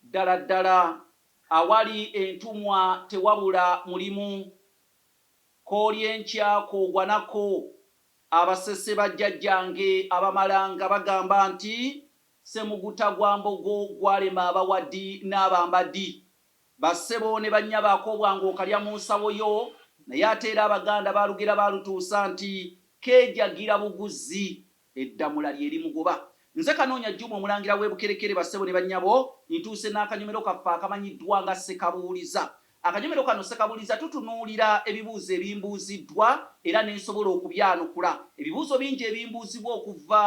Ddala ddala awali entumwa tewabula mulimu. Koolya enkya koogwa nako. Abasese ba jjajjange abamalanga bagamba nti Ssemuguta gwa mbogo gwalema abawadi n'abambadi. Bassebo ne bannyabo akobwa ng'okalya mu nsawo yo naye ate era Abaganda baalugera baalutuusa nti keejagira buguzzi. Eddamula lye limugoba. Nze Kanoonya Jjuma Omulangira w'e Bukerekere bassebo ne bannyabo, ntuuse n'akanyomero kaffe akamanyiddwa nga Ssekabuuliza. Akanyomero kano Ssekabuuliza tutunuulira ebibuuzo ebimbuuziddwa era ne nsobola okubyanukula. Ebibuuzo bingi ebimbuuzibwa okuva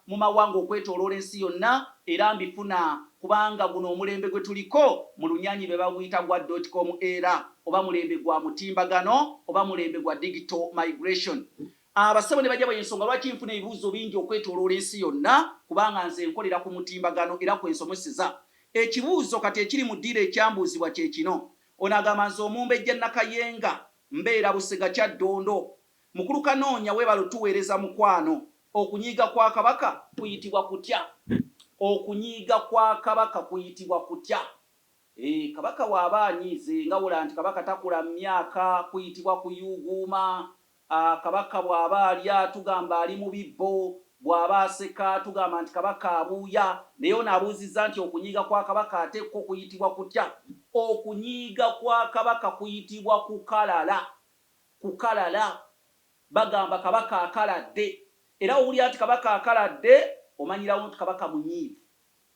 mu mawanga okwetooloola ensi yonna era mbifuna kubanga guno omulembe gwe tuliko mu lunyaanyi be baguyita gwa dotcom era oba mulembe gwa mutimbagano oba mulembe gwa digital migration. Abassebo ne bajjabo y'ensonga lwaki nfuna ebibuuzo bingi okwetooloola ensi yonna kubanga nze nkolera ku mutimbagano era kwe nsomeseza. Ekibuuzo kati ekiri mu ddiiro ekyambuuzibwa kye kino, Ono agamba nze Omumbejja Nakayenga, mbeera Busega Kyaddondo. Mukulu Kanoonya weebale otuweereza mukwano. Okunyiiga kwa Kabaka kuyitibwa kutya? Okunyiiga kwa Kabaka kuyitibwa kutya? Eeh Kabaka bw'aba anyiize nga wola nti Kabaka takula mu myaka kuyitibwa kuyuuguuma. A, Kabaka bw'aba alya tugamba ali mu bibbo, bw'aba aseka tugamba nti Kabaka abuuya. Naye ono abuuzizza nti okunyiiga kwa Kabaka ate kwo kuyitibwa kutya? Okunyiiga kwa Kabaka kuyitibwa kukalala, kukalala. Bagamba Kabaka akaladde. Era w'owulira nti Kabaka akaladde, omanyirawo nti Kabaka munyiivu.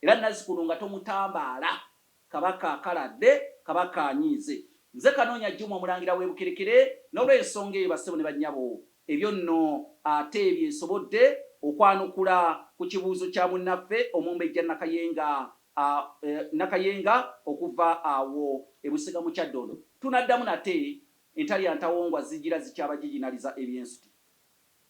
Era nazzikuno nga tomutambaala. Kaba kakaladde, kaba kanyiize. Nze Kanoonya Juma Omulangira w'e Bukerekere, n'olw'ensonga eyo bassebo ne bannyabo, ebyo nno ate bye nsobodde okwanukula ku kibuuzo kya munnaffe Omumbejja Nakayenga a, e, Nakayenga okuva awo e Busega mu Kyaddondo. Tunaddamu nate, entalya ntawongwa zijjira zikyabajijinaliza ebyensuti.